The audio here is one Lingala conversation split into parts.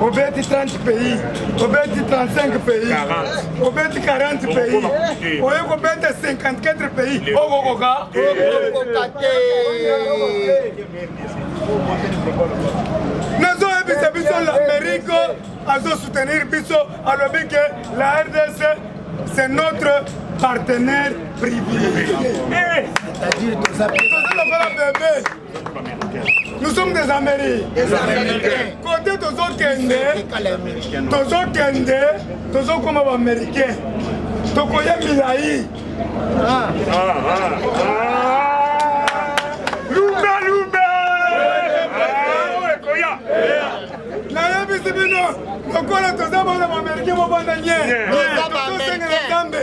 obeti 30 pays obeti 35 pays obeti 40 pays oye kobeta 54 pays okokoka nazoyebisa biso l'amerique azosoutenir biso alobi ke la rdc c'est notre partenaire privilégié eh! toza lokola bebe Nous sommes des Américains. Des Américains. Côté tozokende, tozokende, tozokoma ba Américains. Tokoya milayi. Ah. Ah, ah, ah. Lumba lumba. Ekoya. Nayebisi bino lokola toza bana ba Américains mobanda nye. Tosenga na Nzambe.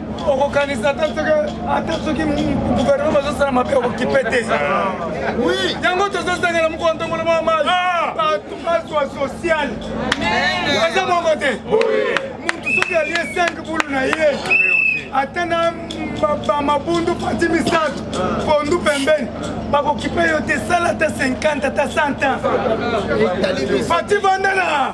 okokanisa ata soki ata soki guvernema azosala mabe okokipe te yango tozosangela mokolo ntongola mwa mai bato bazwa social eza bongo te motu soki alie 5 bulu na ye ata na bamabundu pati misato pondu pembeni bakokipe yo te sala ata 50 ata 100 ans pati vandana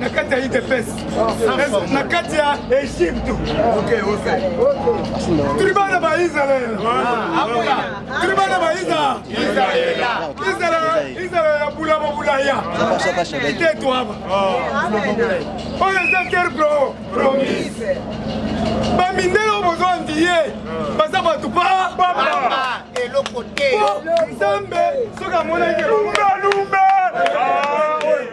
na kati ya udps na kati ya egypte tuli bana ba israel tuli bana ba israel ya bulama bulaya itetwaba oyo eza terre promise bamindele oyo bozwa ndiye baza bato pa eloko te nzambe soki amonaki lumbe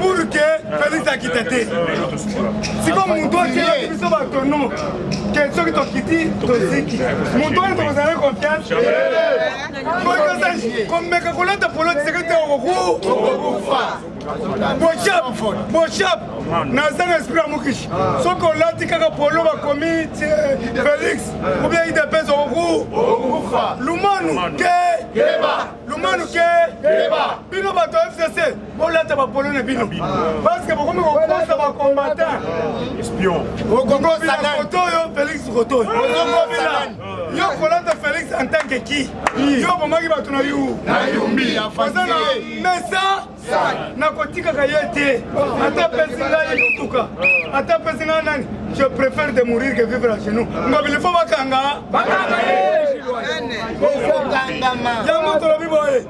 pour que felix akita te siko moto otie biso bato no ke soki tokiti toziki moto oyo tokozala confiance komeka kolata polo tiseke te okokufa boshap boshap naza na esprit ya mokishi soki olati kaka polo bakomi felix obia idps okokufa lumanu te lumanu ke keba bino bato ya fcc bolata bapolo na bino parceke bokomi kokosa bacombatant okokosa foto oyo félix kotoy ozokobila yo kolata félix en tant que ki yo bomaki bato na yu na yumbi oza na mesa nakotikaka ye te ata pesi ngai motuka ata pesi ngai nani je préfère de mourir que vivre à genoux ngobili fo bakanga bakanga ye yango tolobi boye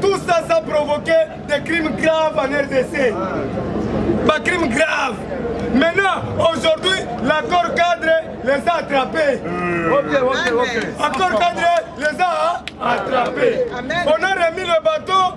tout ça ça provoqué des crimes graves en rdc bacrime grave maintenant aujourd'hui l'accord cadre les a attrapés hmm. okay, okay, okay. accord cadre les a attrapés on a remis le bateau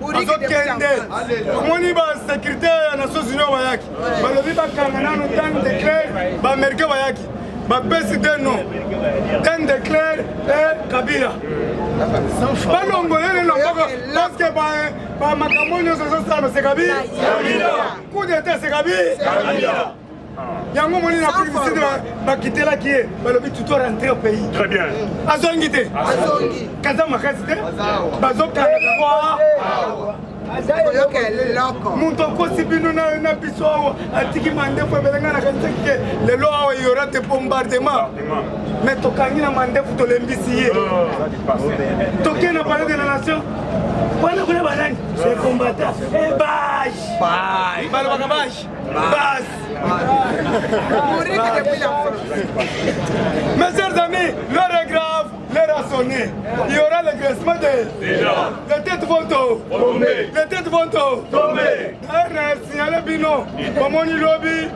bazokende omoni ba sécurité ya nations union bayaki balobi bakanga nano tan de claire baaméricain bayaki bapesi te no ten de claire e kabila balongolele loboko parceke bamakambo nyonso ezosala se kabila coup d'état se kabila yango moni na afrique du sud bakitelaki ye balobi tuto rentre au pays très bien azongi te kaza makasi te bazokanga moto akosi bino na biso awa atiki mandefu ebelengana kanisaki te lelo awa yora te bombardement mais tokangi na mandefu tolembisi ye ah. toke na palais de la nation wana kuna banani combattant ebage balobaka bage Mes chers amis, l'heure est grave, l'heure a sonné. Il y aura le graissement des... Les têtes vont tomber. Les têtes vont tomber. D'ailleurs, signalé Bino, Momoni Lobi,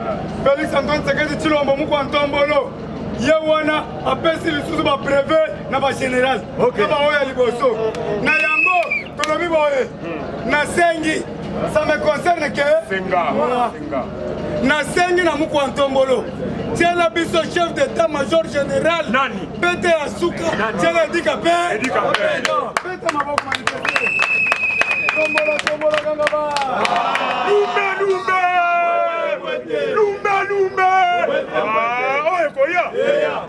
Félix Antoine Sekedi Chilombo, Moukou Antombolo, ye wana apesi lisusu bapreve na bagénéral na baoyo ya liboso na yango tolobi boye nasengi Ça me concerne que Senga. Senga. nasengi na mokwa ntombolo tiela biso chef d'état major général Nani? pete ya suka Nani? tiela edika pe Edika pe. pete maboko manifeste tombola tombola kanga ba Lumbe lumbe. Lumbe lumbe. Ah, oyo ekoya.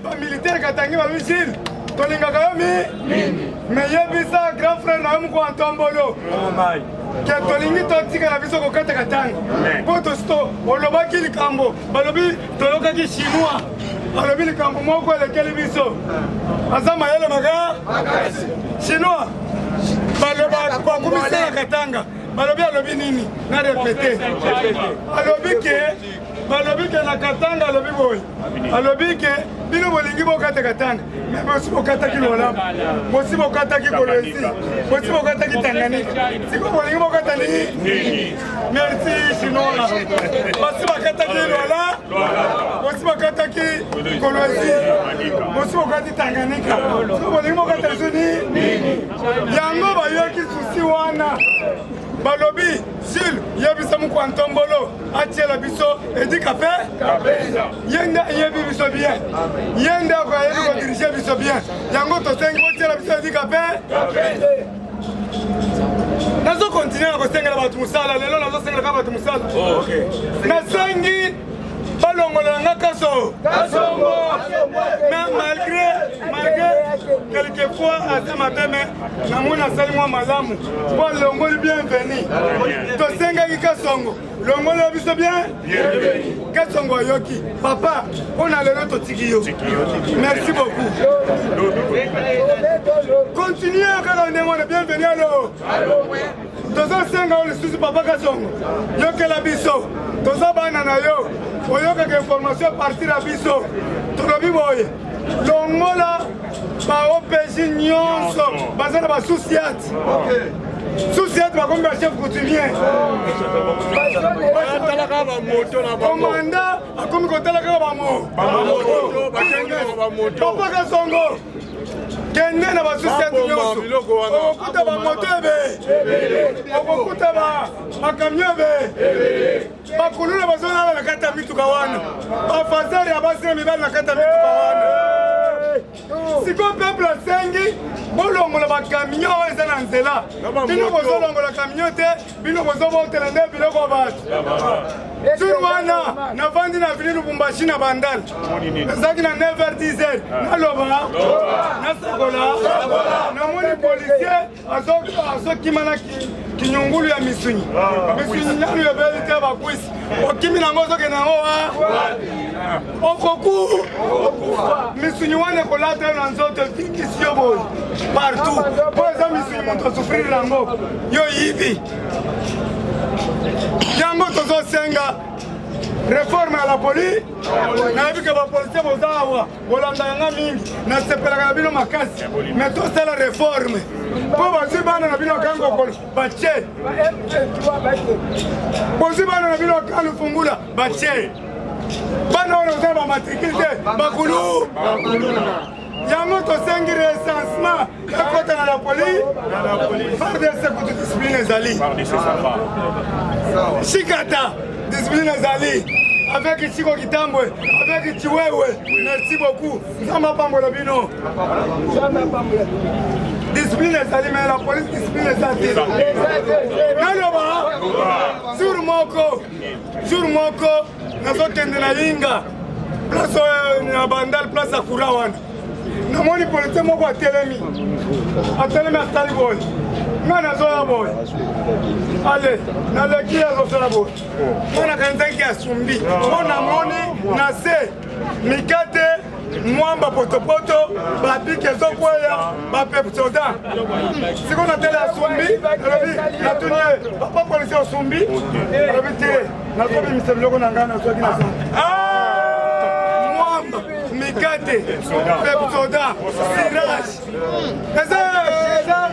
Ba militaire katangi ba missile tolingaka yo mingi mais yebisa grand frère na yo moko antombolo oh ke tolingi totika na biso kokata katanga mpo tosito olobaki likambo balobi toyokaki chinois alobi likambo moko elekeli biso aza mayele maka chinois balobaka bakumisela katanga balobi alobi nini na repete alobi ke balobi ke na katanga alobi boye alobi ke bino bolingi bokata katanga me bosi bokataki lolamu bosi bokataki kolwesi bosi bokataki tanganyika siko bolingi bokata nini merci sinola basi bakataki lwala bosi bakataki kolwesi bosi bokati tanganyika siko bolingi bokata lisusu nini yango bayoki susi wana balobi jule yebisa mokwa ntombolo atiela biso edika mpe ye nde ayebi biso bien ye nde akoyebi kodirige biso bien yango tosengi otiela biso edika mpe nazokontinue na kosengela bato mosala lelo nazosengelaka bato mosala oh, nasengi balongola nga kaso kasongo mais malgré malgré quelquefois aza mabe me namoni asali mwa malamu mpo alongoli bienveni tosengaki kasongo longola biso bien kasongo ayoki papa mpo na lelo totiki yo merci beaucoup continue kaka ndenge wana bienveni alo tozosenga yo lisusu papa kasongo yokela biso toza bana na yo oyokaka information partir ya biso tolobi boye longola baopg nyonso baza na basusiate susiate bakomi bachef coutumier komanda akomi kotala kaka bamoto papa kasongo kende na basosiete nyonso okokuta bamoto ebe okokuta bakamio ebe bakuluna bazolala na kati ya mituka wana bafazere ya basi na mibali na kati ya mituka wana sikoyo peuple asengi bolongola bakamio oyo eza na nzela bino bozolongola kamio te bino bozobotela nde biloko ya bato jour wana navandi na vili lubumbashi na bandal ezalaki na 9h10 ah. naloba nasakola namoni policier azokima na kinyungulu ya misuni ah, misuni nanu ebeli te bakwisi okimi nango ozokende yango wa okokufa misuni wana ekolata yo na nzoto etikisi yo boye partout mpo eza misuni moto osufrire yango yo yibi yango tozosenga reforme ya la police nayebi ke bapolisie boza awa bolanda yanga mingi nasepelaka na bino makasi me tosala reforme mpo bazwi bana na bino akangi kokolo batie bozwi bana na bino akangi fungula batie bana oyo oza ba matricule te bakulu yango tosengi recensement ekota na la police fardc kutu discipline ezali shikata discipline ezali avec Chico Kitambwe, avec Chiwewe. Merci beaucoup. Nzamba pambola bino. Nzamba pambola. Discipline ezali mais la police discipline ezali. Naloba sur moko jour moko nazokende na inga place oyo na bandal place ya courant wana namoni politie moko atelemi atelemi atali boye ngai nazoya boye ale naleki azosala boye mpo nakanizaki asumbi mpo namoni na se mikate mwamba potopoto bapiki ezokweya bapepsoda siko na tele asumbi alobi natuni ye papa polisi osumbi alobi te nazobimisa biloko na ngai nazwaki na mwamba mikate pepsoda sirage eza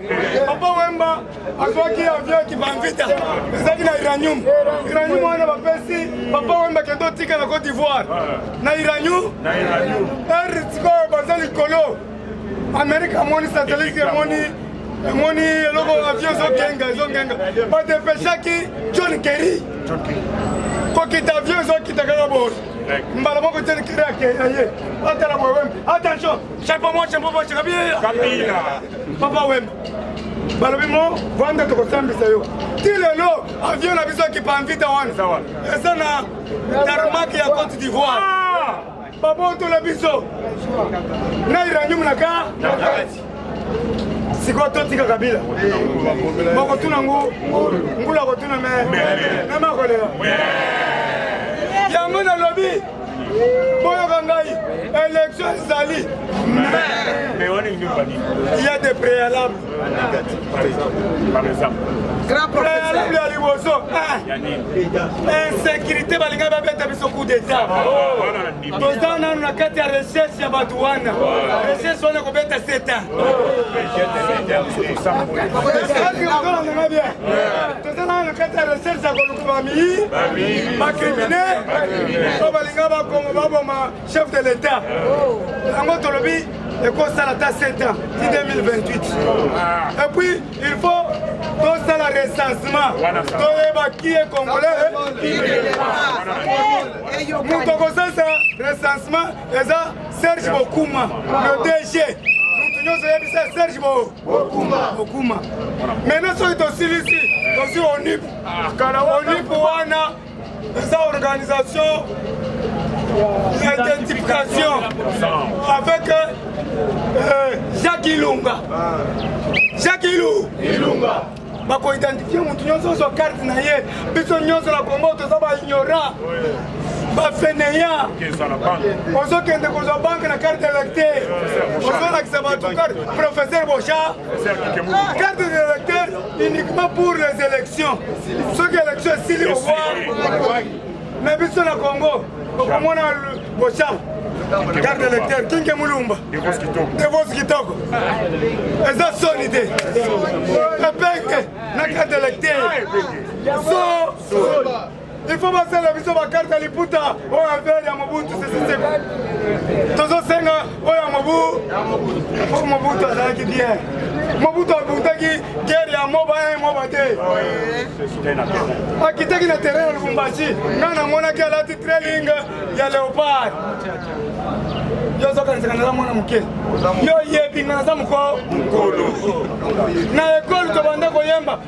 papa wemba azwaki avion ya kibanvita ezalaki na iranium iranium wana bapesi papa wemba kende otika na cote d'ivoire na iranium ere sikoyo baza likolo amerika amoni satelite emoni emoni eloko avion ezokenga ezokenga badepeshaki john kerry kokita avion ezokita kaka boye mbala moko john kerry akeya ye atala boye wemba attention chapeau moche mpo bocheka biya papa wemba balobi mo vanda tokosambisa yo ti lelo avion na biso ekipa anvita wana eza na tarmaki ya cote d'ivoire ah! babotola biso na iranium na ka sikoyo totika kabila bakotuna ngu ngulu akotuna me meme akolela yango nalobi boyoka ngai élection ezali il y a des préalables préalable ya liboso insécurité balingai babeta biso coup d'état toza nano na kati ya recherche ya bato wana recherche wana ekobeta seta toza nano na kati ya recherche ya famille bakrimine to balinga bakongo baboma chef de l'état yango tolobi ekosala ata 7 ans ti 2028 et puis il faut tosala recensement toyeba qui est congolais moto akosalisa recensement eza serge bokuma le dg moto nyonso oyebisa serge bokuma maintenant soki tosilisi tosi onip kala olipo wana eza organisation ya identification avec euh, jacques ilunga jacques ilu ilunga bakoidentifie motu nyonso ozwa karte na ye biso nyonso na kongo toza baignorant bafeneya ozokende kozwa banke na karte electe ozolakisa bato karte professeur boja Carte d'électeur uniquement pour les élections. Soki élection esili owa na biso na Congo okomona bocham carte d'électeur kinke mulumba devos kitoko eza soni te epenge na carte d'électeur so il faut basala biso bakarte ya liputa oyo avere ya mobutu sesiseko tozosenga oyo ya mobu po mobutu azalaki bien mobutu abutaki guerre ya moba ya moba te akitaki na terrain ya lubumbashi ngai namonaki alati trailing ya leopard yo ozokanisaka naza mwana moke yo oyebi nga naza mokolo na ekole tobanda koyemba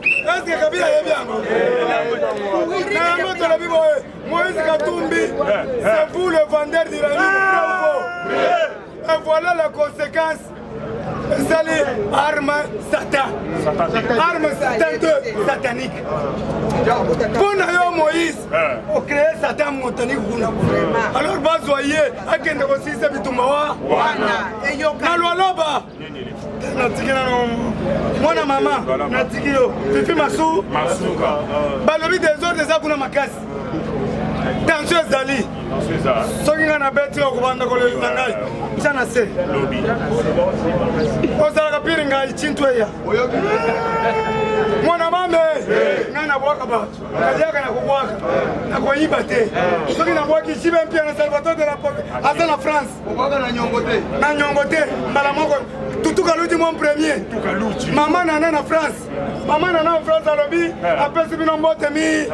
Eske Kabila ayebi yango? Na yango tolobi boye, Moïse Katumbi, c'est vous le vendeur d'uranium, vrai ou faux? Et voilà la conséquence ezali arme satan arme satan te satanique mpo na yo moïse ocree satan motaniki kuna alors bazwa ye akende kosilisa bitumba wana na lwaloba natiki nano mwana mama natiki yo fifi masu balobi desordre eza kuna makasi tension ezali soki ngai nabeti yo kobanda kolelisa ngai tya na se ozalaka pire ngai cintu eya mwana mame ngai nabwaka bato naliaka na kobwaka nakoyiba te soki nabwaki jibe mpia na salvator de la aza na france na nyongo te mbala moko tutuka luti mon premier mama nana na france mama nana na france alobi eh. apesi bino mbote mi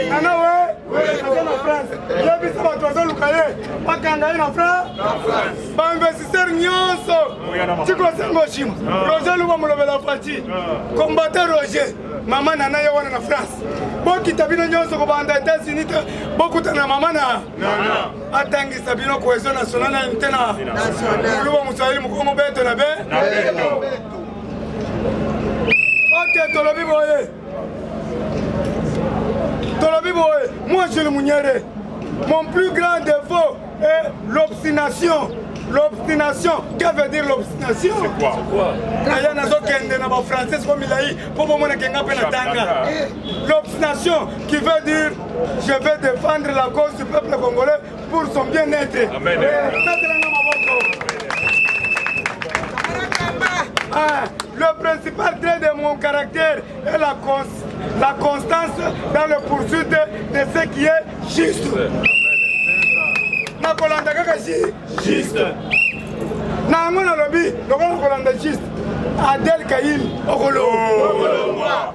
nana we aza na france yebisa bato bazoluka ye bakanga ye na france bainvestisseur nyonso tikosengo shima ah. roger luba molobela fati ah. combata roger mama nana ye wana na france bokita bino nyonso kobanda etats-unis te bokutana mama na atangisa bino cohesion nationale na unité na kuluba moswahili mokongo beto na be oke tolobi boye tolobi boye moi jules munyere mon plus grand défaut est l'obstination l'obstination que veut dire l'obstination aya nazokende na bafrançais ko milai mpo bomonake nga mpe na tanga l'obstination qui veut dire Je vais défendre la cause du peuple congolais pour son bien-être. Amen. Ah, le principal trait de mon caractère est la, cons la constance dans le poursuite de ce qui est juste. nakolanda kaka juste na yango nalobi lokola nakolanda juste adel kail okolongwa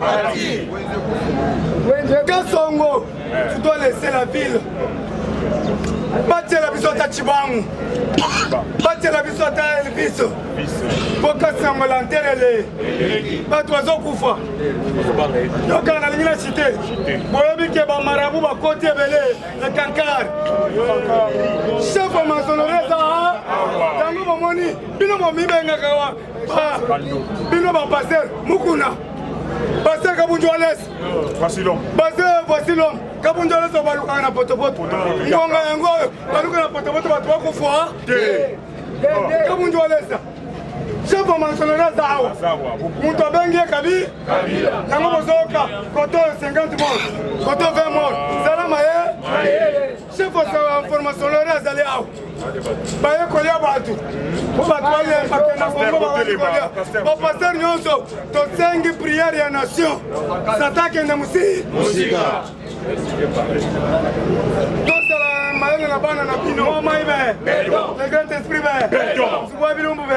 Bati. Kasongo, tu dois laisser la ville. batiela biso ata cibangu batiela biso ata elvis mpo kasi yango lanterele bato bazokufa yokana nalingi na site boyebi ke bamarabu bakoti ebele na kankar chef ya masonore eza yango bomoni bino bomibengaka wa bino ba pasteur mukuna pasteur kabundu ales pasteur vasilom kabundu ales balukaka na potopoto ngonga yango oyo baluka na potopoto bato bakufa kabundu alesa chef wa mansonori aza awa moto abengi ye kabi yango bozoyoka koto 50 mor koto 20 mor zala maye sekosawa information lore azali awa baye kolia bato po bato bayembake na kongo babali kolia bapaster nyonso tosengi priere ya nation sata akende mosika mayele na bana na bino omai be le grand esprit be zubwa bilumbu be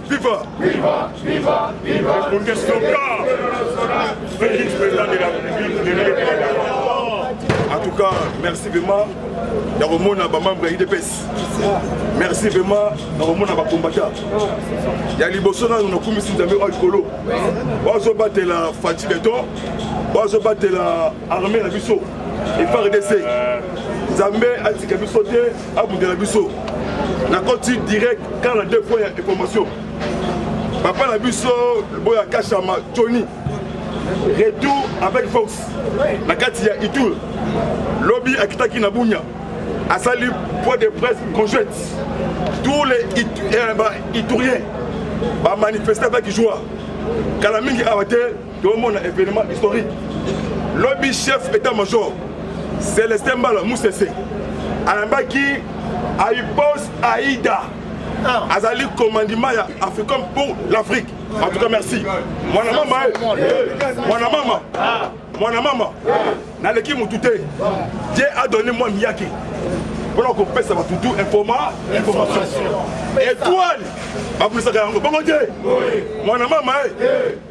Viva! Viva! Viva! Viva! Le Congrès local! Félix, président de la République, de la En tout cas, merci vraiment. ya komona bamembre ya idps merci vraiment na komona bakombata ya liboso nano nakumisi nzambe oyo likolo bazobatela fati beton bazobatela arme na biso efrdc nzambe atika biso te abundela biso nakoti direct kar na deux points ya information papa na biso boya kashama tony retour avec force na kati ya itur lobi akitaki na bunya asali point de presse conjointe tous les eh, ituriens bamanifeste avec joie kala mingi awa te tomona événement historique lobi chef état major celestin mbala musese ayambaki aipos aida ah. azali commandement ya africom pour l'afrique en tout cas merci mwana mama mwana mama mwana mama naleki motu te je adonne mwa miyaki mpona kopesa bato tu informa information étoile babulisaka yango bongo te mwana mama e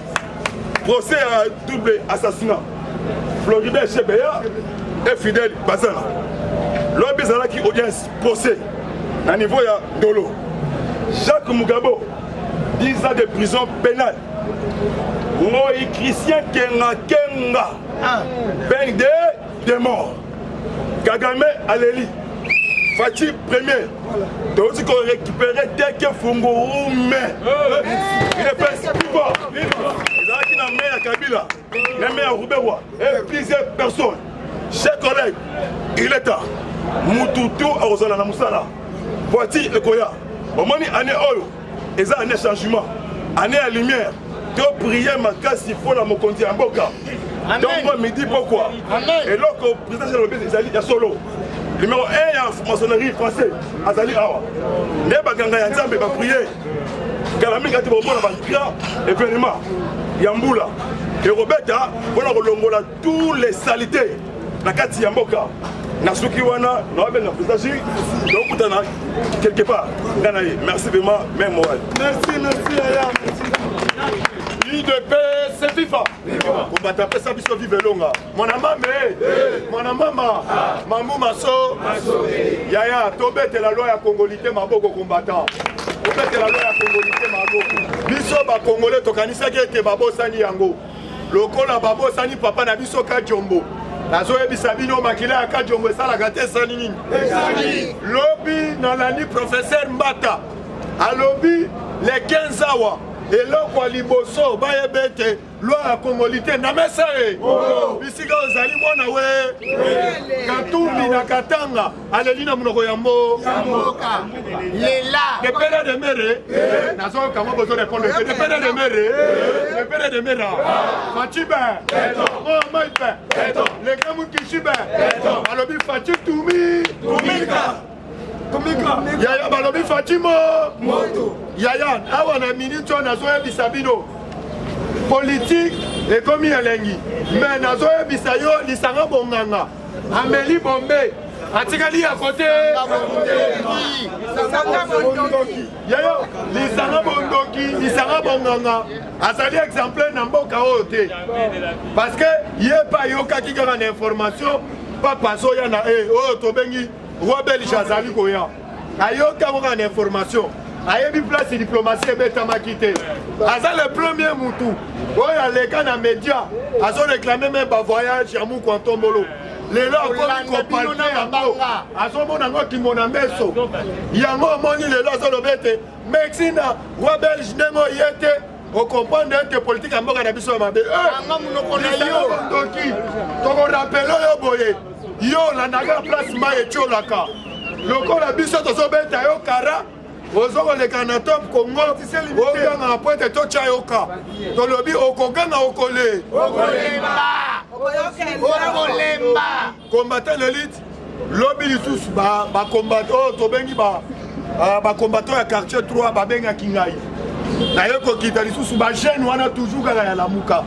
procès ya double assassinat floribert chebeya e fidèle bazana lobi ezalaki audience procès na niveau ya dolo jacques mugabo 10 ans de prison pénale moi christian kenga kenga ah. peine de de mort kagame aleli faci premier toyoti korécupere teke fungurume epesikipo ezalaki na me ya kabila na me ya rubewa e plusieurs personnes chers collègues il est temps mutu tu akozala na mosala voiture ekoya omoni année oyo eza année changement année ya lumière topriye makasi mpo na mokonzi ya mboka ntongo midi pokwa eloko président alobi ezali ya solo numero 1 ya maçonnerie français azali awa nde baganga ya nzambe bapriye kala mingi ati bomona bagra événement ya mbula ekobeta mpo na kolongola tous les salités na kati ya mboka na suki wana na wabenga président ji tokutana quelque part nga na ye merci vraiment meme moral merci merci aya udps fifa kobata pesa biso vive elonga mwana mame eh. mwana mama ah. mambu maso yaya tobetela loi ya kongolite maboko combattant obetela loi ya kongolite maboko biso bakongole tokanisaki ete babosani yango lokola babosani papa na biso kajombo nazoyebisa bino makila ya kajombo esalaka te esali nini lobi nalandi professeur mbata alobi le 15 awa eloko ya liboso bayeba ete lwa ya kongolite na mesa ye bisika ozali mwana we katumbi na katanga aleli na monoko ya mboka lela de pere de mere eh. nazoyoka yango bozo repondre te de pere de mere eh. de pere de mera faci ben omai ben leka mokishi ben alobi faci tumi tumika yaya balobi faci mo yaya awa na miniti oyo nazoyebisa bino politike ekomi elengi me nazoyebisa yo lisanga bonganga Ameli Bombay atikali ya kote yayo lisanga bondoki lisanga bonganga azali exemplaire na mboka oyo te parce que ye mpe ayokaki kaka na information papa azoya na e oyo tobengi roi belge azali koya ayoki yango kaka na information ayebi place diplomatie ebetamaki te aza le premier mutu oyo aleka na média azoreklame me bavoyage ya muku antombolo lelo akomi kopalpe yango azomona yango kimona meso yango omoni lelo azoloba ete mexina wa belge ndenge oye te okomprendre ete politike ya mboka na biso ya mabe anga monoko na yo ndoki tokorapele yo boye yo olandaka place mai etiolaka lokola biso tozobeta yo kara ozo koleka na top congo oganga na poete totya yoka tolobi okoganga okole okolemba okolemba Combattant d'élite, lobi lisusu ba ba combattant oyo oh, tobengi ba ah, ba combattant ya quartier 3 babengaki ngai naye kokita lisusu ba jeune wana toujours kaka ya lamuka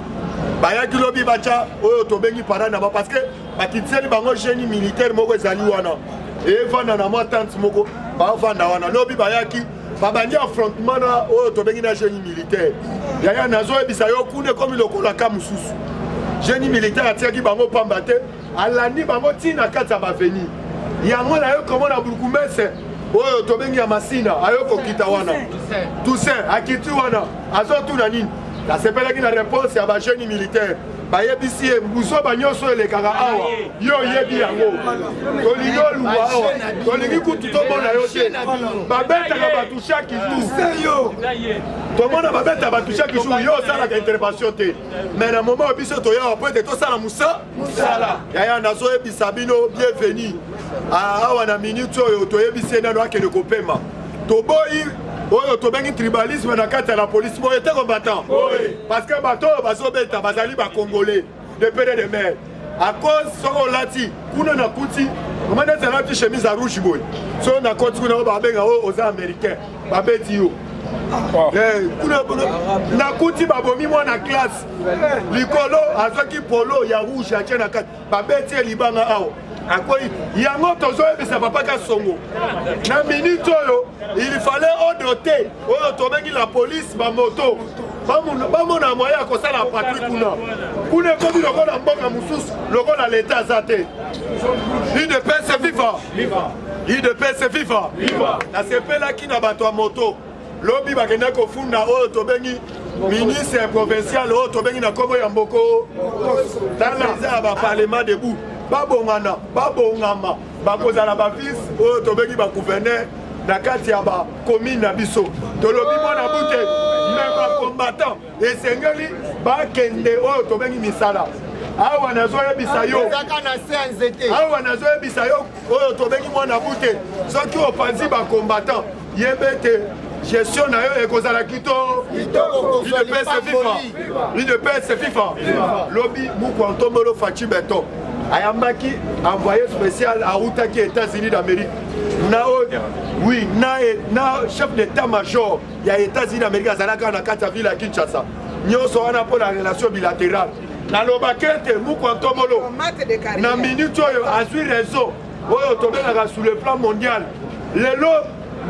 bayaki lobi batya oyo tobengi parade na bango parce que bakitiseli bango genie militaire moko ezali wana evanda na mwa tante moko bavanda wana lobi bayaki babandi affrontement na oyo tobengi na génie militaire yaya nazoyebisa yo kuna ekomi lokola ka mosusu génie militaire atiaki bango pamba te alandi bango ntina na kati ya baveni yango nayo komona burkumese oyo tobengi ya masina ayo kokita wana toussaint akiti wana azotuna nini nasepelaki na réponse ya bagénie militaire bayebisi ye buzoba nyonso elekaka awa yo oyebi yango tolingi oluka awa tolingi kutu tomona yo te babetaka bato chaque jour tomona babeta bato chaque jour yo osalaka intervention te mais na moment oyo biso toyawa po ete tosala mosala yaya nazoyebisa bino bienvenu ah, awa na minute oyo toyebisi ye nano akende kopema toboyi oyo tobengi tribalisme na kati ya la polisi boye te combattant parce que bato oyo bazobeta bazali bacongolais de pere de mare à cause soki olati kuna nakuti mama neti alati chemise ya rouge boye soki nakoti kuna oyo babenga oyo oza américain babeti yo eh, nakuti babomi mwana classe likolo azwaki polo ya rouge atie na kati babeti ye libanga awa akwei yango tozoyebisa papa kasongo na minute oyo il fallait odote oyo tobengi la police bamoto bamona moye ya kosala patri kuna kuna ekomi lokola mboka mosusu lokola leta aza te udps viva udps viva nasepelaki na bato ya moto lobi bakenda kofunda oyo tobengi ministre provincial oyo tobengi na nkombo ya mboko tala eza ya baparlement debout babongana babongama bakozala bavice oyo tobengi bagouverneur na kati ya bakomine na biso tolobi mwana bute me bacombatant esengeli bakende oyo tobengi misala awa nazoyebisa yo awa nazoyebisa yo oyo tobengi mwana bute soki opanzi bacombatant yebete gestion na yo ekozala kito idepese fifa idepese fifa lobi muku antombolo faci beton ayambaki envoyé spécial autaki états-unis d'amérique na oyo oui na, na chef d'état major ya états-unis d'amérique azalaka na kati ya ville ya kinshasa nyonso wana mpo na relation bilatérale nalobaki ete mukwa ntomolo na minute oyo azwi reseau oyo tobengaka sur le plan mondial lelo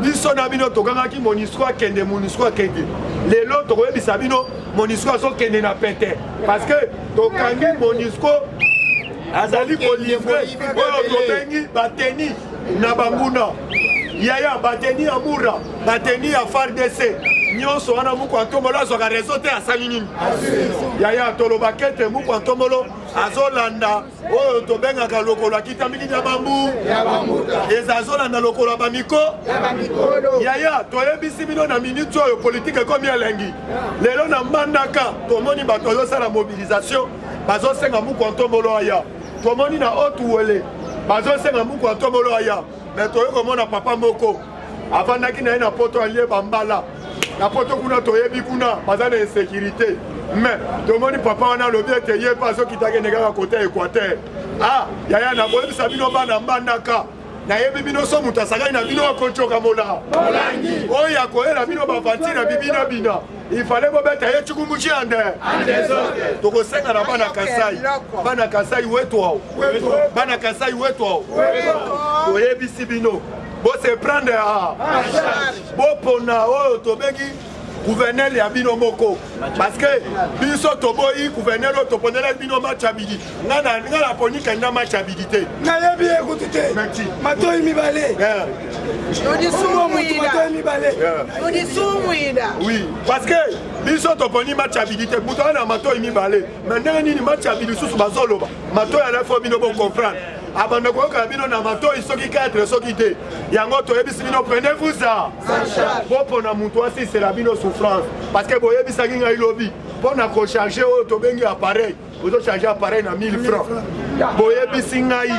biso na bino tokangaki monisco akende monisco akende lelo tokoyebisa bino monisco azokende na pete parce que tokangi monisco azali kolivre oyo tobengi bateni na banguna yaya bateni ya mura bateni ya fardc nyonso wana muku antomolo azwaka rezo te asali nini yaya tolobaka ete muku antomolo azolanda oyo tobengaka lokolo akitamiki na bambu eza azolanda lokolo ya bamiko yaya toyebisi bino na miniti oyo politike ekomi elengi lelo na mbandaka tomoni bato bazosala mobilisation bazosenga muku antombolo aya tomoni na otuwele bazosenga muku antombolo aya me toyei komona papa moko avandaki na ye na poto alie bambala na poto kuna toyebi kuna baza na insécurité mais tomoni papa wana alobi ete ye mpe azokita kende kaka kote ya équateur ah yaya nakoyebisa bino bana mbandaka nayebi bino so moto asakani na bino akocoka mola oyo akoyela bino bavanti na bibina bina ifale bobeta ye cikumuci ande tokosenga na bana kasai bana kasai wetwao bana kasai wetwao toyebisi bino bose prendre a bopona oyo tobengi gouverneur ya bino moko parce que biso toboyi gouverneur oyo toponelaki bino match ya bidi nga naponi kenda match ya bidi te nayebi ye kutu te matoi mibale oui parce que biso toponi match ya bidi te moto wana na matoi mibale me ndenge nini match ya bidi susu bazoloba matoi alafo bino bocomprendre abanda koyoka na bino na matoi soki 4 soki te yango toyebisi bino prenez vous a bopona moto asisela bino souffrance parce que boyebisaki ngai lobi mpo na kocharge oyo tobengi appareil ozocharge appareil na 1000 franc boyebisi ngai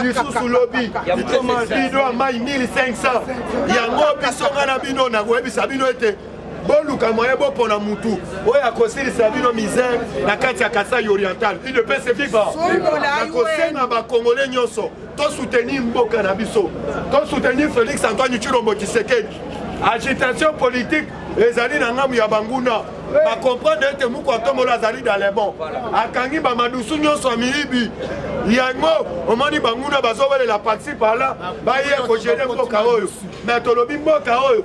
lisusu lobi bido ya mai 1500 yango biso ngai na bino nakoyebisa bino ete boluka moyen bopona mutu oyo akosilisa bino misère na kati ya kasai oriental udps viva nakosenga bakongole nyonso tosoutenir mboka na biso tosoutenir félix antoine tshilombo tshisekedi agitation politique ezali na ngambo ya banguna bakomprendre ete moko atombola azali dalebon akangi bamadusu nyonso ya miyibi yango omoni banguna bazowelela paxi pala baye kogene mboka oyo me tolobi mboka oyo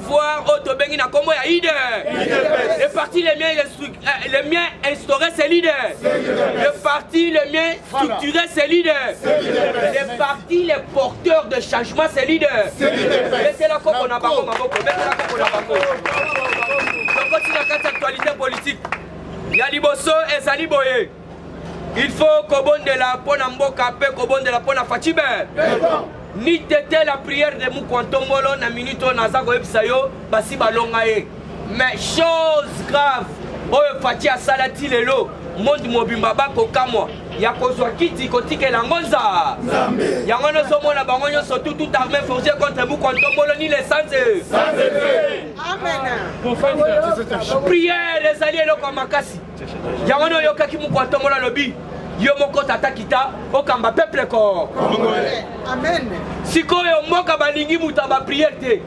pouvoir oyo tobengi na nkombo ya ide le parti le mieux, euh, le mieux instauré c'est l'idée le parti le mieux structuré c'est l'idée le parti le porteur de changement c'est l'idée betela koko na bango maboko betela koko na bango tokoti na kati ya actualité politique ya liboso ezali boye il faut kobondela mpo na mboka mpe kobondela mpo na facibe nitete la prière de mukwantombolo na minute oyo naza koyebisa yo basi balonga ye mais chose grave oyo faci asala ti lelo monde mobimba bakokamwa ya kozwa kiti kotikela yango nza yango nozomona bango nyonso tu tout armé forgé contre mukwantombolo ni lesanze prière ezali eloko ya makasi yango nde oyokaki moko atombola alobi yo moko tata kita okamba peuple ko sikoyo mboka balingi moto ya bapriere te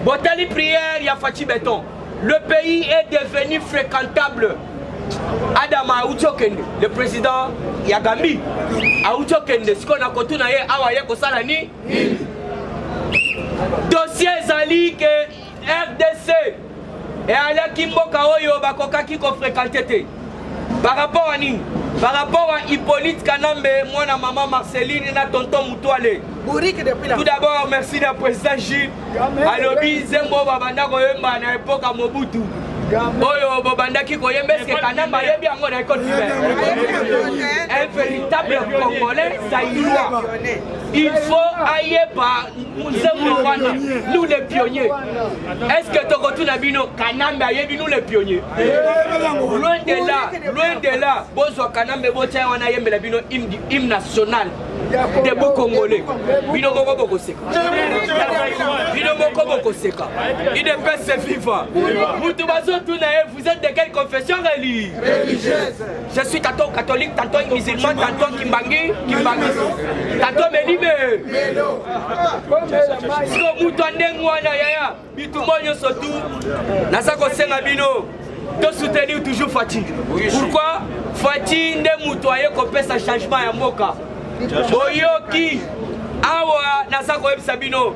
botali priere ya faci beton le pays est devenu fréquentable adama auti okende le président ya gambi auti okende sikoyo na kotuna ye awa ye kosala nini dossier ezali ke rdc eyalaki mboka oyo bakokaki kofrekante te par rapport à nini par rapport à hippolyte kanambe mwana mama marceline na tonton mutuale tout d'abord merci na président jules alobi nzembo babanda koyemba na epoke ya mobutu oyo bobandaki koyemba eske kanamba ayebi yango na ekole un véritable congolais zaïrois il faut ayeba nzembo wana nous les pionniers est ce que tokotuna bino kanambe ayebi nous les pionniers loin de là loin de là bozwa kanambe botya wana ayembela bino hymne national debout congolais bino moko bokoseka bino moko bokoseka idepese viva mutu bazotuna ye vous êtes de quelle confession religieuse Je suis tantôt catholique, tantôt musulman, tantôt kimbangi, kimbangi, tantôt melime. Siko mutu ndenge wana yaya, bitumba nyonso tu naza kosenga bino to soutenir toujours Fatih. Pourquoi Fatih nde mutu aye kopesa changement ya mboka. Boyoki awa naza koyebisa bino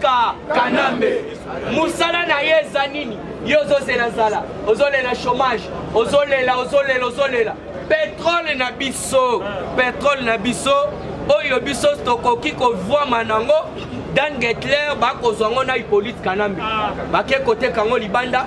Ka Kanambe musala na ye eza nini? Yo ozozela zala, ozolela chômage, ozolela ozolela ozolela petrole na biso, petrole na biso oyo biso tokoki kovwama nango dan getler bakozwa ngo na ipolite kanambe bake koteka ngo libanda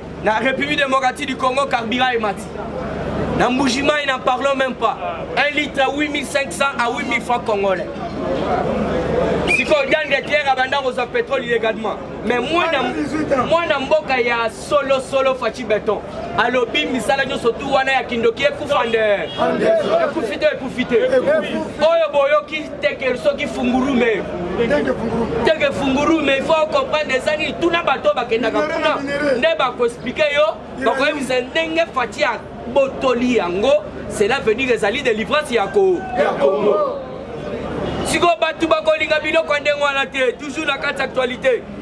Na République démocratique du Congo, carburant et mati. Na Mbujimaï, n'en parlons même pas. Un litre à 8500 à 8000 francs congolais. sikoyo dan de terre abanda kozwa pétrole illégalement mais mwana mboka ya solosolo faci beton alobi misala nyonso tu wana ya kindoki ekufa nde ekufi te ekufi te oyo boyoki teke soki fungurume teke fungurume il faut comprendre eza nini tuna bato oyo bakendaka kuna nde bakoexplike yo bakoyebisa ndenge fati ya botoli yango cela veut dire ezali délivrance ya ko sikoyo bato bakolinga biloko ya ndenge wana te toujours na kati actualité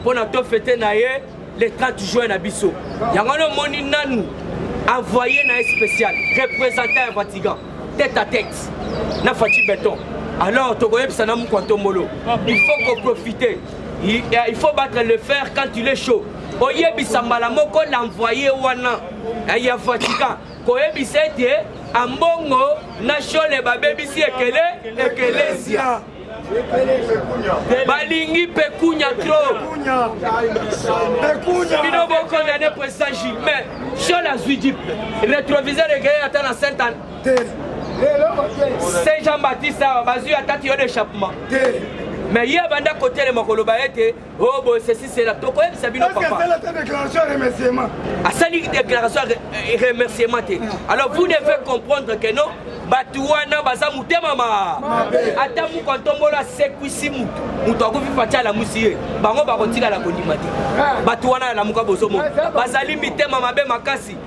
mpo na to fete na ye le 30 juin na biso yango wana omoni nanu envoyé na ye spécial représentant ya vatican tête à tête na faci beton alors tokoyebisa na mokwa ntombolo il faut koprofite il, il faut battre le fer quand il est chaud oyebisa mbala moko l'envoyé wana ya vatican koyebisa ete ambongo na shole babebisi ekele ekelesia balingi pekunya trop bino bokondane president ji mais shol azwi jip retroviseur ekeye ata na saint anne saint jean baptiste awa bazwi ata tiyo d'échappement mais ye abanda kotelema koloba ete Oh, boye ceci cela tokoyebisa bino asali déclaration ya remerciement te ah. alors vous devez comprendre que non bato wana baza motema ma ata moko ntombolo asekwisi motu motu akufi pati alamusi ye bango bakotikala kondima te ah. bato wana alamuka bozomona ah, bazali mitema mabe makasi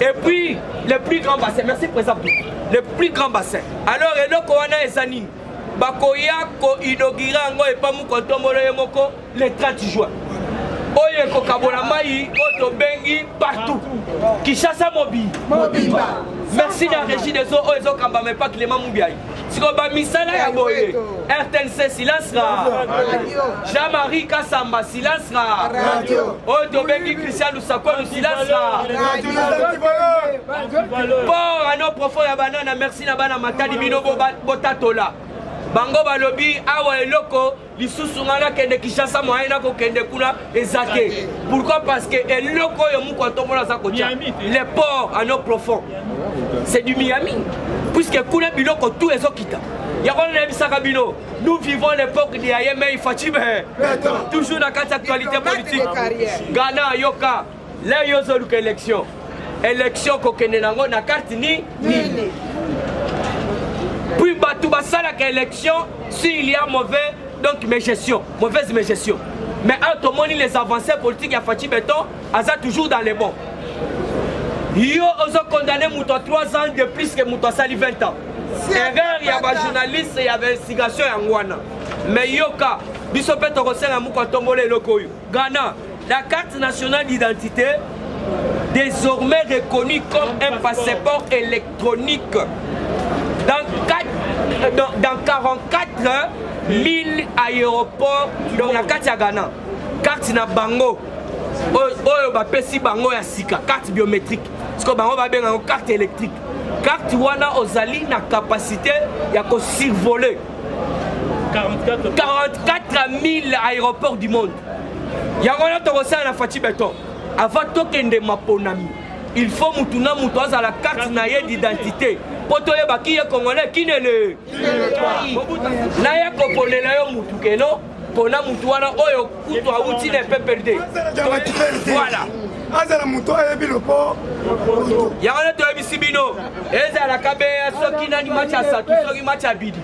Et puis, le plus grand bassin, merci Président, le plus grand bassin. Alors, eloko wana eza nini bakoya koinaugure yango epa mokontombolo ye moko le 30 juin oyo ekokabola mai oyo tobengi partout kinshasa mobimba merci na régie des eaux oyo ezokambama epa clément mubiai siko bamisala ya boye rtnc silence ra jean marie kasamba silence ra oyo tobengi christian lusakolu silence ra port ano profond ya banana merci na bana matadi bino botatola bango balobi awa eloko lisusu ngai nakende kinshasa moyen nakokende kuna eza te pourquoi parce que eloko oyo moko atombola aza kotya le port en eau profond c'est du miami puisque kuna biloko tout ezokita yango nayebisaka bino nous vivons l'époque de ayemei fatime toujours na kati actualité politique ghana yoka Leo yo ozoluka election election kokende nango na karte ni nini puis bato basalaka election si il y a mauvais donc mes gestion mauvaise mes gestion mais awa tomoni les avancées politiques ya faci beton aza toujours dans le bon yo ozo condamne moto ya 3 ans de plus que moto asali 20 ans erreur ya bajournaliste ya investigation yango wana mais yoka biso mpe tokosenga moko atombola eloko oyo ghana La carte nationale d'identité désormais reconnue comme un passeport électronique dans, 4, euh, dans, dans 44 000 aéroports donc na kati ya Ghana carte na bango oyo bapesi bango ya sika carte biométrique sikoyo bango babenga yango carte électrique carte wana ozali na capacité ya kosurvoler 44 000 aéroports du monde yango wana tokosala na faci beton avant tokende maponami il faut mutu na mutu azala carte na ye d'identité mpo toyeba ki ye congolais kinele naye koponela yo mutu keno pona mutu wana oyo kutu awuti na pprd voilà azala moto ayebi lopo yango nde toyebisi bino ezalaka be soki nani match ya satu soki match ya bidi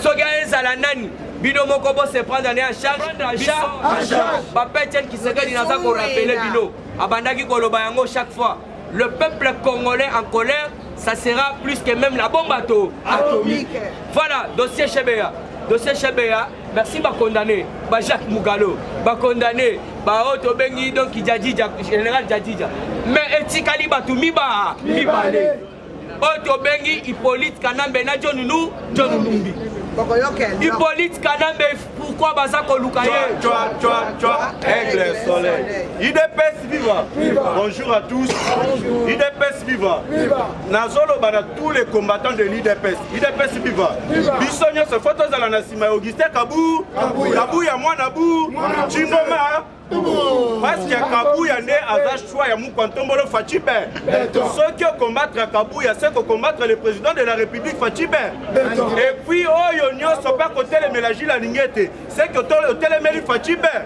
soki ezala nani bino moko bo se prendre ne en charge papa etienne kisekedi naza korapele bino abandaki koloba yango chaque fois le peuple congolais en colère ça sera plus que même la bombe ato atomique voilà dossier chebeya dossier chebeya merci bacondamne ba jacques mugalo bacondamne baoyo tobengi donc jadija général jadija mais etikali bato miba mibale oyo tobengi hippolyte kanambe na john nu john numbi hippolyte kanambe pourkui baza koluka ye aigle soleil idps viva bonjour à tous idps viva nazoloba na tous les combattants de l'idps idps viva biso nyonso fo tozala na nsima ya augustin kabu kabu ya mwana bu cimboma parce que kabuya nde aza choix ya mukwa ntombolo faci ben soki okombattre kabuya se kokombattre le président de la république faci ben et puis oyo nyonso mpe akotelemela jile alingi ete seke otelemeli faci ben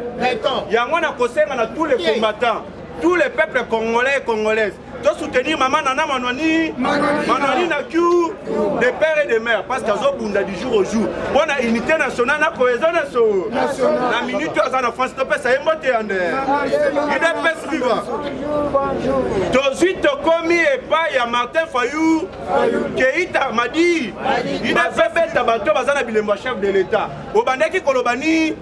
yango na kosenga na tous les combattants tous les peuples congolais et congolaises To soutenir maman Nana Manwani, Manwani na Q, de père et de mère, parce qu'azo bunda du jour au jour. Bon na unité nationale na cohésion nationale. Na minute aza na France to pesa emote ande. Il est pèse viva. Tozui tokomi epai ya Martin Fayou, Keita Madi, il est fait beta bato baza na bilembo ya chef de l'État. Obandaki koloba ni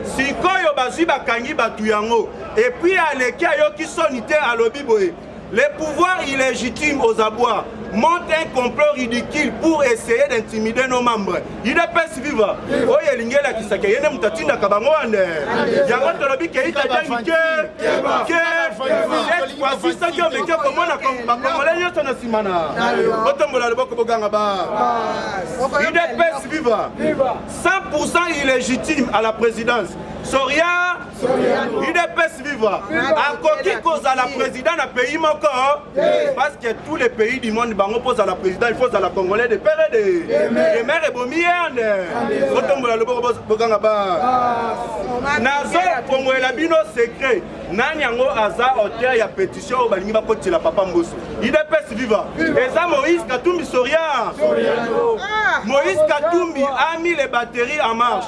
sikoyo bazui bakangi bato yango. Et puis aleki ayoki soni te alobi boye le pouvoir illégitime aux abois monte un complot ridicule pour essayer d'intimider nos membres udps viva oyo elingi elakisa ke ye nde moto atindaka bango wane yango tolobi keitadani ke ke cette fois-ci soki omeki okomona bakongole nyonso na nsima na botombola loboko boganga ba udps viva 100 pourcent illégitime à la présidence soria udps viva akoki kozala président na pays moko parce que tous les pays du monde bango mpo ozala président il faut ozala congolais de pere de demere ebomi yende botombola loboko boganga ba nazofongolela bino secret nani yango aza auteur ya pétition oyo balingi bakotela papa mboso udps viva eza moïse katumbi soria moïse katumbi a mis les batteries en marche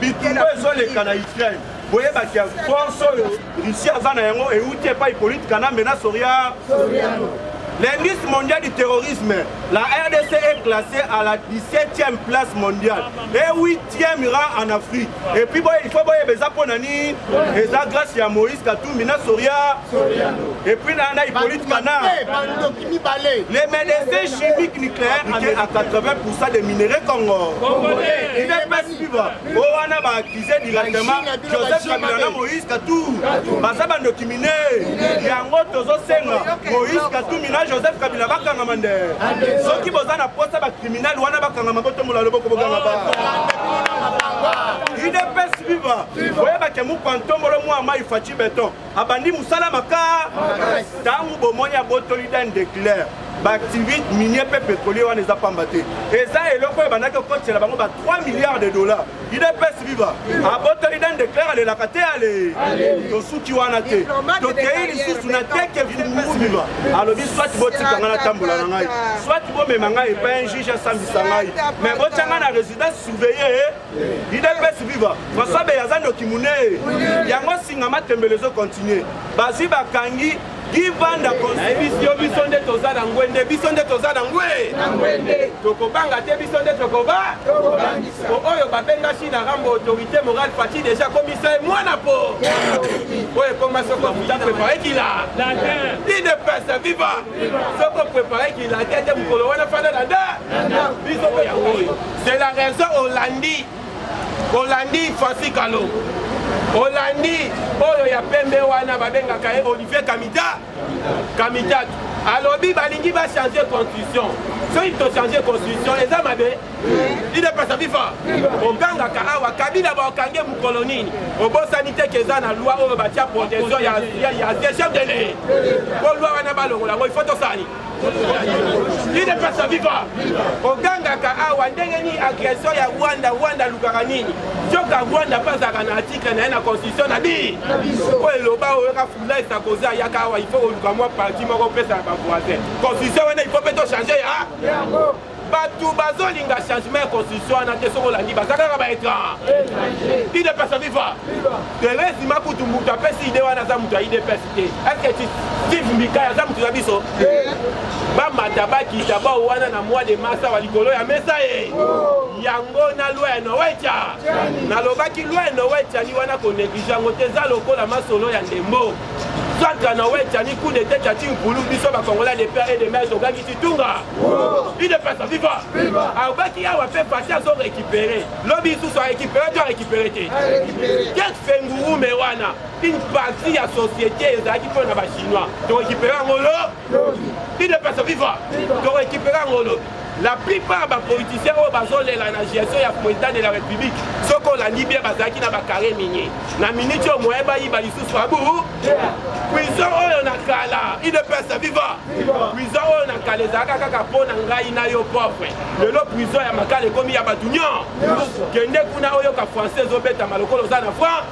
bitumba ezoleka na ukraine boyebaki ya force oyo russie aza na yango euti epai polite kanambe na soria L'indice mondial du terrorisme, la RDC est classée à la 17e place mondiale et 8e rang en Afrique. Et puis bon, il faut boyer beza ponani, eza grâce à Moïse Katumbi na Soria. Et puis na na Hippolyte Kana. mibale. Les médecins chimiques nucléaires amènent à 80% des minerais Congo. Congolais, il est pas suivre. Oh, wana ba accusé directement Joseph Kabila na Moïse Katou. Baza ba documiné. Yango tozo senga Moïse Katou mina Joseph Kabila bakanga mande. Soki boza na posa ba criminel wana bakanga maboto mola loboko bokanga ba. Il est pas suivre. Oyeba ke mu pantomolo mu ama ifachi beton. abandi mosala maka ntango bomoni abotoli dan de claire baactivite minier mpe pétrolier wana eza pamba te eza eloko oyo ebandaki kokotela bango ba 3 milliards de dollars idps viva abotoli dan de claire alelaka te ale tosuki wana te tokei lisusu na teke funguru viva alobi soit botika ngai natambola na ngai soit bomema ngai epai un juge asambisa ngai mais botya ngai na résidence surveillée idps viva françois beye aza ndoki munee yango singa matembele ezo continue bazwi bakangi givanda nayebisi yo biso nde toza na ngwende biso nde toza na ngwe tokobanga te biso nde tokoba po oyo babengaki na rambo autorité morale fati deja komisa ye mwana po oyo ekoma soko futa prepare kila idps viva soko prepare kila te te mokolo wana fanda na nda biso oyo C'est la raison olandi olandi Fassi Kalongo olandi oyo ya pembe wana babengaka ye Olivier Kamita Kamitatu alobi balingi bachange constitution soki tochange constitution eza mabe idepasa viva ogangaka awa kabila baokange mokolo nini obosani te ke eza na loi oyo batya protection ya chef de le po loi wana balongola yango ifo tosani idepesa viva ogangaka awa ndenge nini agression ya rwanda rwanda alukaka nini soka rwanda mpe azalaka na article na ye na constitution na bi oyo eloba oyoka fulai sakoza ayaka awa ifo koluka mwa parti moko opesa na bavoisin constitution wana ifo mpe tochange ya bato bazolinga changement ya constitution wana te soki olandi baza kaka baétrange idps aviva therese makutu moto apesi ide wana aza moto ya idps te eske steve mbikai aza moto na biso bamata bakita bao wana na mois de mars awa likolo ya mesa ye yango na loi ya nowecha nalobaki loi ya nowecha ni wana koneglige yango te eza lokola masolo ya ndembo Fatra na Wetcha ni coup d'état Tati Mpulu biso ba Congolais de père et de mère tobaki Titunga il ne passe viva abaki awa mpe Fati azo récupérer lobi lisusu a récupérer to a récupérer te quel fengurume wana une partie ya société ezalaki mpo na ba chinois to récupérer yango lo il ne passe viva to récupérer yango lobi La plupart ba politiciens oyo bazolela na gestion ya president de la république soki olandi bien bazalaki na bakare minier na minute oyo moye bayiba lisusu abu prison oyo na kala idepesa viva prison oyo na kala ezalaka kaka mpo na ngai na yo pauvre lelo prison ya makala ekomi ya bato nyon kende kuna oyoka français ezobetama lokola oza na france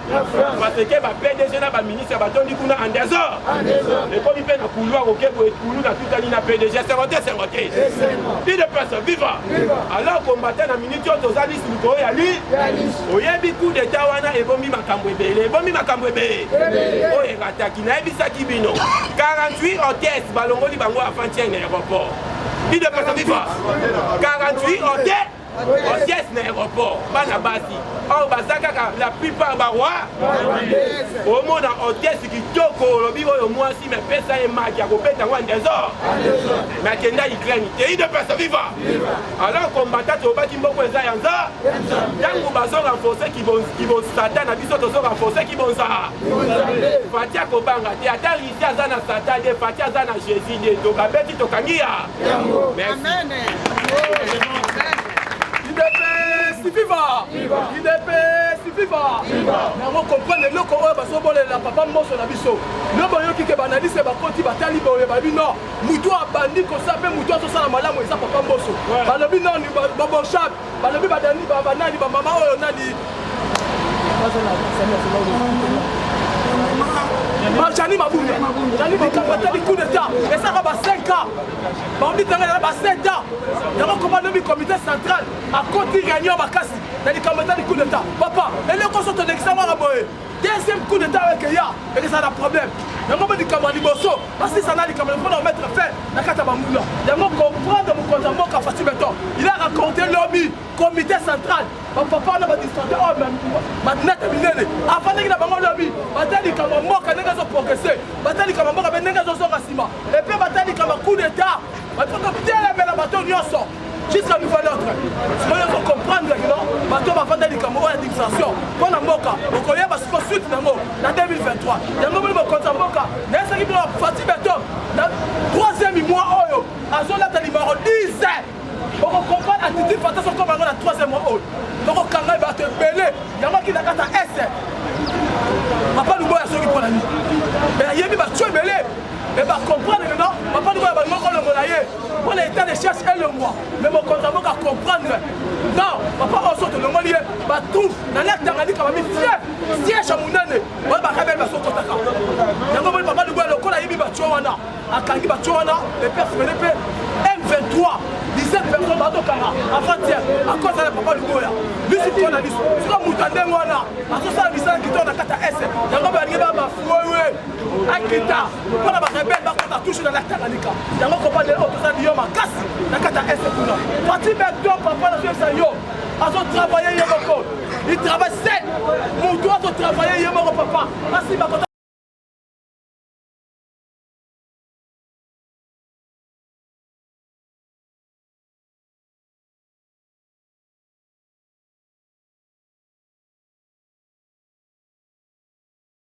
parce que ba pdg na baministre batondi kuna en désordre ekomi mpe na couloir okebo ekulu na tutani na pdg esengo te esengo te ide pese viva alors kombata na minute oyo toza lisi likolo ya li oyebi coup d'etat wana ebomi makambo ebele ebomi makambo ebele oyo erataki nayebisaki bino 48 hôtes balongoli bango avant tiene aéroport ide pese viva 48 hôtes Hôtesse na aéroport bana basi oyo baza kaka la plupart baroi omona hôtesse kitoko olobi oyo mwasi me pesa ye maki akobeta yango andesor me akenda ukraine tei de pesa viva alors kombata tobaki mboko eza ya nza ntango bazo renforce kibonsata na biso tozo renforce kibonza fati akobanga te ata Fatih aza na Satan de Fatih aza na Jésus de toka beti toka ngiya. Amen. Idepes viva. Idepes viva. Nango comprendre eloko oyo bazobolela papa mboso na biso. Yo boyoki ke banalise bakoti batali boye babi no mutu abandi kosa mpe mutu azosala malamu eza papa mboso balobi noni baboshape Balobi ba dani ba ba nani ba mama oyo nani. Marjani Mabunda. Jani Mabunda tali coup d'état. Et ça va 5 ans. Bambi tanga na ba 7 ans. Yango koma lobi comité central à côté réunion bakasi. Tali kamata coup d'état. Papa, eleko soto lekisa mwana boye. deuxième coup d'état oyo ekeya ekezala na problème yango mpe likambo ya liboso basisa na likambo ya mpona omettre fin na kati ya banguna yango comprendre mokonzi ya mboka fasi beton il a raconté lobi comité central bapapa wana badistrate oyo matinete minene afandaki na bango lobi bata likambo ya mboka ndenge ezoprogrese bata likambo ya mboka mpe ndenge ezozonga nsima epe bata likambo ya coup d'état bato kotelemela bato nyonso jusqu'à nouvel ordre sikoyo ozo comprendre kino bato bafanda likambo oyo ya distraction mpo na mboka okoyeba siko suite nango na 2023 yango moni mokonzi ya mboka naye soki bino fati beton na 3e mois oyo azolata limaro 10 okocomprendre attitude fata sokoma yango na 3e mois oyo tokokanga bato ebele yango akindakata este papa luboya soki mpo na nini ayebi bato ebele e bacomprendre maintenant papa luboya balingo kolongola ye mpo na etat de charge elongwa me mokonzi ya mboka comprendre non papa oyo so tolongoli ye batrouve na lek tanganyika bami fief siège ya monene oyo bakabeli bazokotaka yango moni papa liboya lokola ayebi batio wana akangi batio wana epe frene mpe m23 17 personnes bazokanga avantiere akoza na papa liboya bisu mpo na bisu soka moto ya ndenge wana azosala misala kitoko na kati ya ese yango balingi babafuewe akita mpo na barebele bakota toujours na la tanganyika yango kobande oyo toza biyo makasi na kati ya este kuna fatime dopa mpo na toyebisa yo azotravaille ye moko il travaille seul motu azotravaille ye moko papa asi bakota